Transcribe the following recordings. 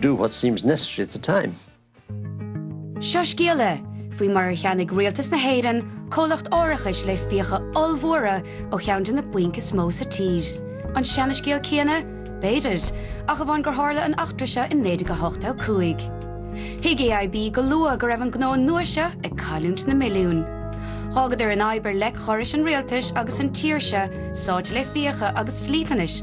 Do what seems necessary at the time. Seo scéal é faoi mar a cheannaigh Rialtas na hÉireann comhlacht árachais le fiacha ollmhóra ó cheann de na baoinc is mó sa tír. An seanascéal céanna? B'fhéidir, ach amháin gur tharla an eachtra seo in 1985. Thuig AIB go luath go raibh an gnó nua seo ag cailliúint na milliún. D'fhágadar an obair ar leic dhorais an rialtais agus an tír seo sáite le fiacha agus dlíteanais,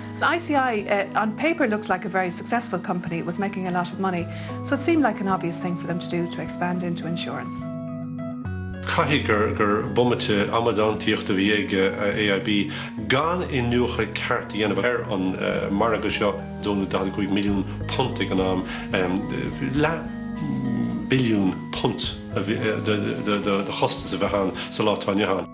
The ICI, on paper looked like a very successful company, it was making a lot of money, so it seemed like an obvious thing for them to do, to expand into insurance. Caithfidh gur bomaite amadántaíochta a bhí ag AIB gan iniúchadh ceart a dhéanamh ar an margadh seo, deonú £45 milliún ag an am, leath billiún punt de chostas a bheadh ann sa lá atá inniu ann.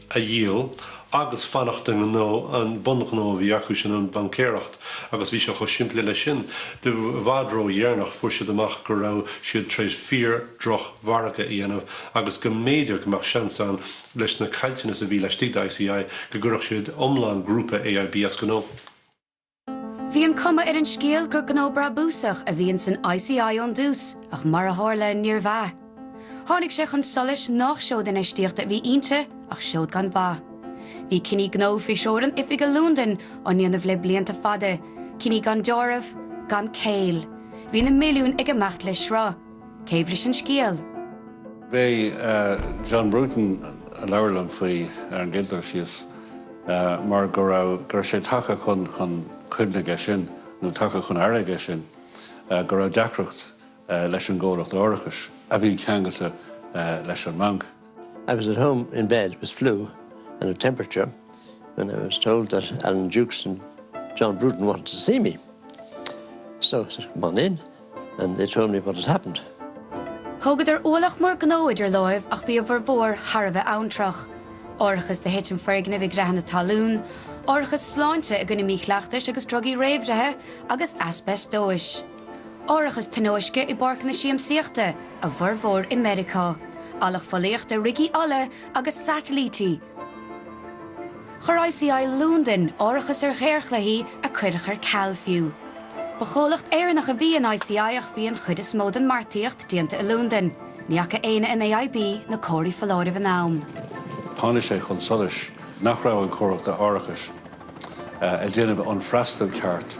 a dhíol agus fanacht i ngnó, an bunghnó a bhí acu sin, an bhaincéireacht, agus bhí sé chomh simplí leis sin. I bhfad ró-dheireanach fuair siad amach go raibh siad tar éis fíor-dhrochmhargadh a dhéanamh agus go mb'fhéidir go mbeadh seans ann, leis na caillteanais a bhí laistigh de ICI, go gcuirfeadh siad iomlán Ghrúpa AIB as gnó. Bhí an cuma ar an scéal gur gnó brabúsach a bhí ins an ICI ó thús ach mar a tharla níorbh ea. Tháinig sé chun solais nach seod infheistíochta a bhí inti ach seod gan mhaith. Bhí cinní gnó faoi threoir na hoifige i Londain á ndéanamh le blianta fada, cinní gan dealramh, gan chéill. Bhí na milliúin ag imeacht le sruth. Cé bhris an scéal? B'é John Bruton a labhair liom faoi, ar an gcéad dul síos, mar go raibh, go raibh sé tagtha chun, chun cuimhne aige sin, nó tagtha chun aire aige sin, go raibh deacracht leis an gcomhlacht árachais, a bhí ceangailte leis an mbanc. I was at home in bed with flu and a temperature when I was told that Alan Dukes and John Bruton wanted to see me. So I said, come on in, and they told me what had happened. Thógadar ualach mór gnó idir láimh ach bhí a bhformhór thar a bheith amhantrach. Árachas do thitim foirgnimh i gcreathanna talún, árachas sláinte i gcoinne míchleachtais agus drugaí réamhbhreithe, agus aispeastóis. Árachas tionóisce i bpáirceanna siamsaíochta, a bhformhór i Meiriceá. Eallach folaíochta, rigí ola agus satailítí. Chuir ICI Londain árachas ar aerchluichí a cuireadh ar ceal fiú. Ba chomhlacht Éireannach a bhí in ICI ach bhí an chuid is mó den mhargaíocht déanta i Londain. Ní fhaca éinne in AIB na comharthaí foláirimh in am. Tháinig sé chun solais nach raibh an comhlacht árachais ag déanamh an freastal ceart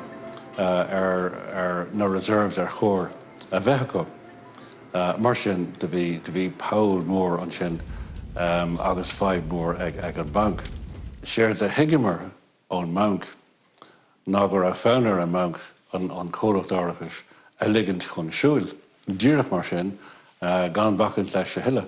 ar na reserves ar chóir a bheith acu. Mar sin de bhí poll mór ansin agus fadhb mór ag an mBanc. Séard a thuigeamar ón mBanc ná go raibh fonn ar an mBanc an Comhlacht Árachais a ligint chun siúil díreach mar sin gan bacaint leis a thuille.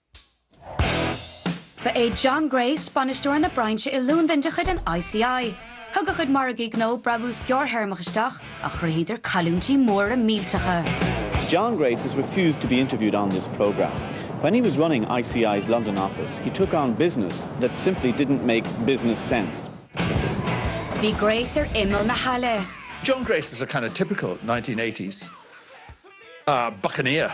Ba é John Grace bainisteoir na brainse i Londain de chuid an ICI. Thug a chuid margaí gnó brabús gearrthéarmach isteach, ach chruthaíodar cailliúintí móra millteacha. John Grace has refused to be interviewed on this programme. When he was running ICI's London office, he took on business that simply didn't make business sense. Bhí Grace ar imeall na haille. John Grace was a kind of typical nineteen eighties buccaneer.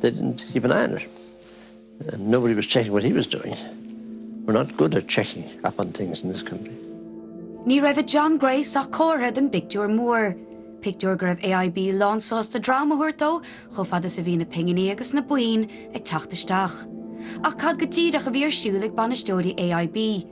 They didn't keep an eye on it. And nobody was checking what he was doing. We're not good at checking up on things in this country. Ní raibh i John Grace ach comhartha den bpictiúr mór, pictiúr go raibh AIB lánsásta droim a thabhairt dó chomh fada is a bhí na pinginí agus na boinn ag teacht isteach. Ach cad go díreach a bhí ar siúl ag bainisteoirí AIB?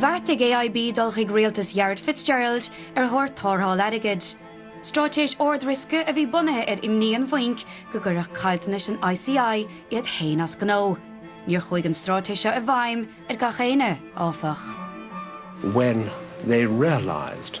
Bheartaigh AIB dul chuig rialtas Garret FitzGerald ar thóir tarrtháil airgid. Straitéis ardriosca a bhí bunaithe ar imní an bhainc go gcuirfeadh caillteanais an ICI iad féin as gnó. Níor chuaigh an straitéis seo i bhfeidhm ar gach éinne, áfach. when they realised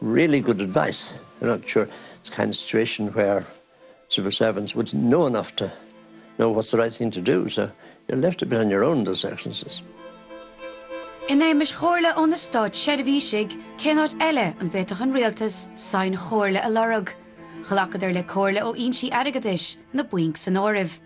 really good advice. I'm not sure, it's the kind of situation where civil servants would know enough to know what's the right thing to do, so you're left a bit on your own in those circumstances. In éagmais chomhairle ó na státseirbhísigh, cén áit eile an bhféadfadh an rialtas sainchomhairle a lorg? Ghlacadar le comhairle ó fhoinsí airgeadais, na bainc san áireamh.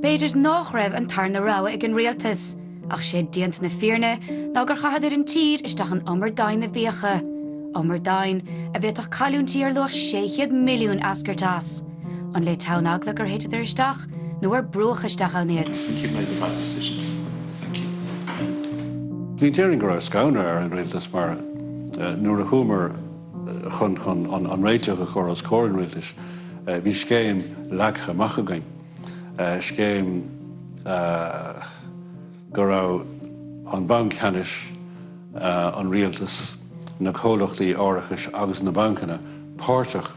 B'fhéidir nách raibh an tarna rogha ag an Rialtas, ach sé déanta na fírinne ná gur chaitheadar an tír isteach in iomar doimhin na bhfiacha, iomar doimhin a bhféadfadh cailliúintí ar luach 600 milliún eascairt as. An le teann eagla gur thiteadar isteach nó ar brúadh isteach ann iad? Ní déarfainn go raibh scanradh ar an Rialtas mar nuair a chuamar, chun an réiteach a chur os comhair an Rialtais, bhí scéim leagtha amach againn, scéim go raibh an Banc Ceannais, an Rialtas, na comhlachtaí árachais agus na bancanna páirteach.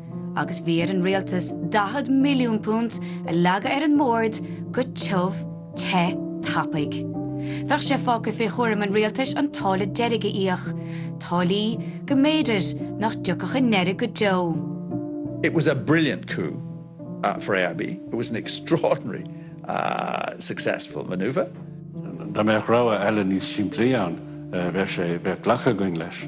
agus bhí ar an Rialtas £40 milliún a leagan ar an mbord go tiubh te tapaidh. Bheadh sé fágtha fé chúram an Rialtais an táille dheiridh a íoc, táillí go mb'fhéidir nach dtiocfadh chun deiridh go deo. It was a brilliant coup for AIB, it was an extraordinary successful manoeuvre. Dá mbeadh rogha eile níos simplí ann bheadh sé, bheadh glactha againn leis.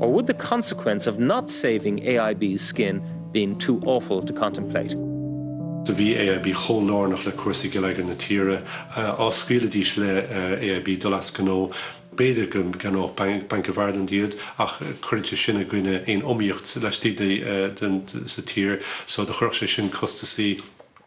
Or would the consequence of not saving AIB's skin been too awful to contemplate? Do bhí AIB chomh lárnach le cúrsaí geilleagair na tíre, á scaoilidís le AIB dul as gnó, b'fhéidir go gceannódh Bank of Ireland iad, ach cuireann sé sin i gcoinne aon iomaíocht laistigh den sa tír, so do chuirfeadh sé sin costasaí.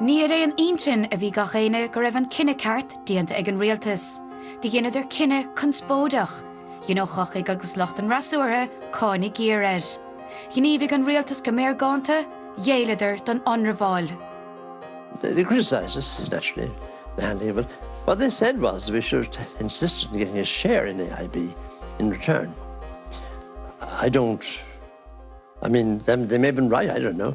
Ní ar aon intinn a bhí gach éinne go raibh an cinneadh ceart déanta ag an Rialtas. Do dheineadar cinneadh conspóideach. Dhein Haughey agus lucht an Fhreasúra cáineadh géar air. Ghníomhaigh an Rialtas go méargánta, ghéilleadar don ionramháil. They criticised us, naturally, the handling of it. What they said was that we should have insisted on getting a share in AIB in return. I don't, I mean, they may have been right, I don't know.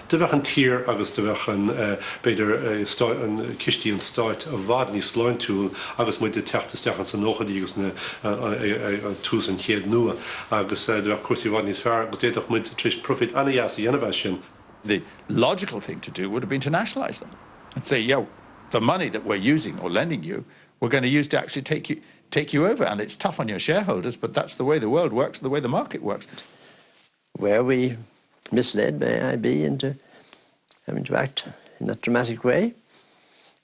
Do bheadh an tír agus do bheadh an, b'fhéidir, an, cistí an Stáit i bhfad níos sláintiúil agus muid ag teacht isteach ins na nóchaidí agus na, ag tús an chéad nua. Agus do bheadh cúrsaí i bhfad níos fearr agus d'fhéadfadh muid tar éis profit an-dheas a dhéanamh as sin. The logical thing to do would have been to nationalise them and say yeah the money that we're using or lending you we're going to use to actually take you, take you over and it's tough on your shareholders but that's the way the world works and the way the market works. Were we misled by AIB into having to act in that dramatic way?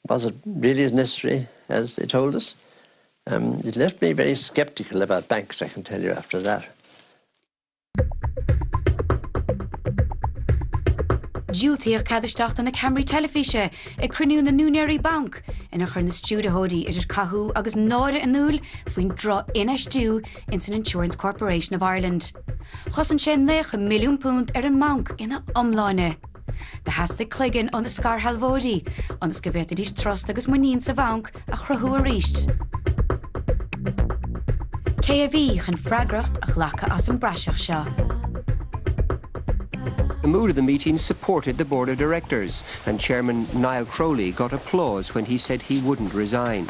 Was it really as necessary as they told us? Um, it left me very sceptical about banks, I can tell you, after that. Diúltaíodh cead isteach do na ceamaraí teilifíse ag cruinniú na n-úinéirí banc inar chuir na stiúrthóirí idir cathú agus náire in iúl faoin droch-infheistiú ins an Insurance Corporation of Ireland. Chosain sé naocha milliún punt ar an mbanc ina iomláine. Do theastaigh cloigeann ó na scairshealbhóirí ionas go bhféadfaidís trust agus muinín sa bhanc a chruthú arís. Cé a bhí chun freagracht a ghlacadh as an bpraiseach seo? The mood of the meeting supported the Board of Directors and Chairman Niall Crowley got applause when he said he wouldn't resign.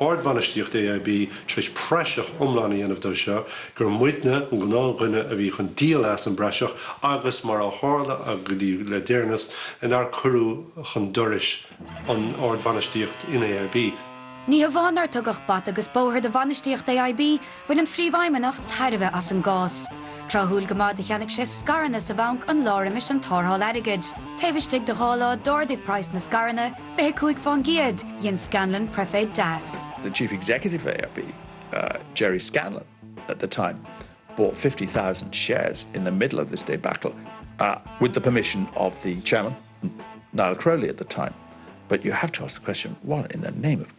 ardbhainistíocht AIB tar éis praiseach iomlán a dhéanamh dó seo, gur muidne, an gnáthdhuine a bhí chun díol as an bpraiseach agus, mar a tharla go dtí le deireanas, nár cuireadh chun dorais an ardbhainistíocht in AIB. Ní hamháin nár tugadh bata agus bóthar do bhainistíocht AIB Bhain an Phríomhfheidhmeannach tairbhe as an gcás. Tráthúil go maith do cheannaigh sé scaranna sa bhanc an lá roimis an tarrtháil airgid. Taobh istigh de dhá lá d'ardaigh price na scaranna 25 fán gcéad. Dhein Scanlon preiféid deas. The Chief Executive of AIB, Gerry Scanlon, at the time bought 50,000 shares in the middle of this debacle with the permission of the Chairman, Niall Crowley at the time, but you have to ask the question what in the name of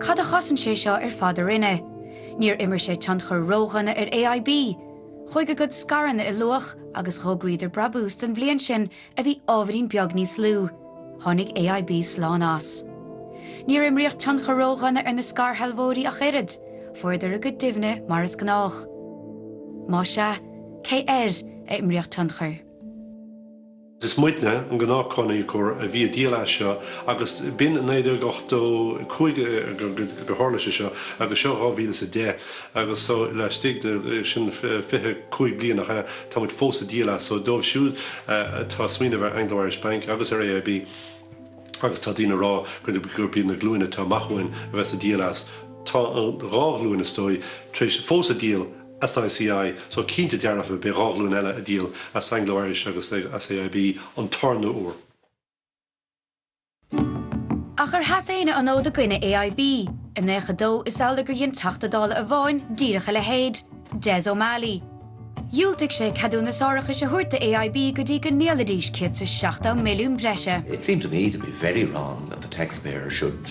Cad a chosain sé seo ar fad orainne? Níor imir sé tionchar ródhona ar AIB. Chuaigh a gcuid scaireanna i luach agus dh'fhógraíodar brabús don bhliain sin a bhí ábhairín beag níos lú. Tháinig AIB slán as. Níor imríodh tionchar ródhona ar na scairshealbhóirí ach oiread. Fuaireadar a gcuid díbhinní mar is gnách. Más ea, cé air a imríodh tionchar? Is muidne, an gnáthcháiníocóir, a bhí ag díol as seo agus b'in i 1985 gur tharla sé seo agus seo 2010 agus so laistigh de sin fiche cúig bliain nach ea, tá muid fós ag díol as. So dóibh siúd atá ag smaoineamh ar Anglo Irish Bank agus ar AIB agus tá daoine ag rá gurb iad na glúine atá amach uainn a bheas ag díol as, tá an dhá ghlúin is dóigh tar éis fós ag díol as ICI, so cinnte dearfa beidh dhá ghlúin eile ag díol as Anglo Irish agus as AIB an tarna uair. Ach ar sheas éinne an fód i gcoinne AIB? I naocha dó is amhlaidh gur dhein Teachta Dála amháin díreach a leithéid, Des O'Malley. Dhiúltaigh sé ceadúnas árachais a thabhairt do AIB go dtí go ndíolfaidís céad is seachtó milliún breise. It seemed to me to be very wrong that the taxpayer should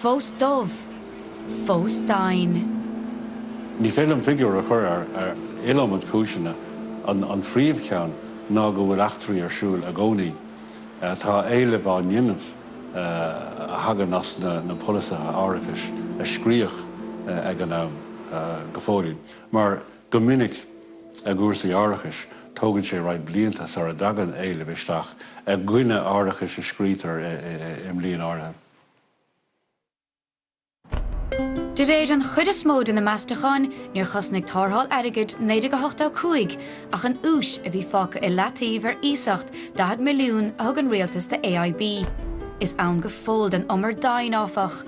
fós dubh, fós doimhin. Ní féidir liom figiúr a chur air, ar iliomad cúiseanna. An phríomhcheann ná go bhfuil eachtraí ar siúl i gcónaí. Tá éilimh á ndéanamh a thagann as na polasaithe árachais a scríodh ag an am. Go fóillín. Mar, go minic i gcúrsaí árachais, tógann sé roinnt blianta sara dtagann éilimh isteach i gcoinne árachais a scrítear i mbliain áirithe. De réir an chuid is mó de na meastacháin, níor chosnaigh tarrtháil airgid 1985 ach an ús a bhí fágtha i leataobh ar iasacht 40 milliún a thug an rialtas do AIB. Is ann go fóill den umar doimhin, áfach.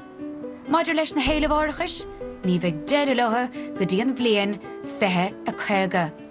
Maidir leis na héilimh árachais, ní bheidh deireadh leotha go dtí an bhliain 2050.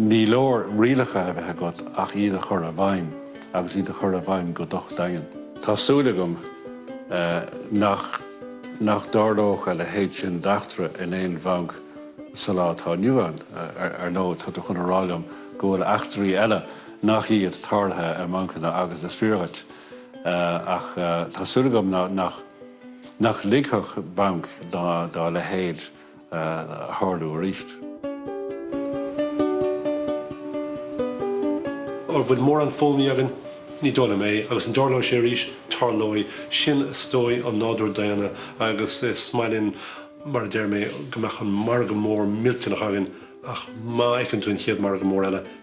Ní leor rialacha a bheith agat ach iad a chur i bhfeidhm agus iad a chur i bhfeidhm go docht daingean. Tá súil agam nach nach dtarlódh a leithéid sin d'eachtra in aon bhanc sa lá atá inniu ann. Ar ndóigh, tá tú chun a rá liom go bhfuil eachtraí eile nach iad tarlaithe i mbancanna agus is fíor dhuit. Ach tá súil agam nach nach ligfeadh banc dá leithéid a tharlú arís. An bhfuil mórán foghlamtha againn? Ní dóigh liom é, agus an dtarlóidh sé arís? Tarlóidh. Sin, is dóigh, an nádúr daonna, agus is maith linn, mar a deir mé, go mbeadh an margadh mór millteanach againn, ach má fheiceann tú an chéad margadh mór eile,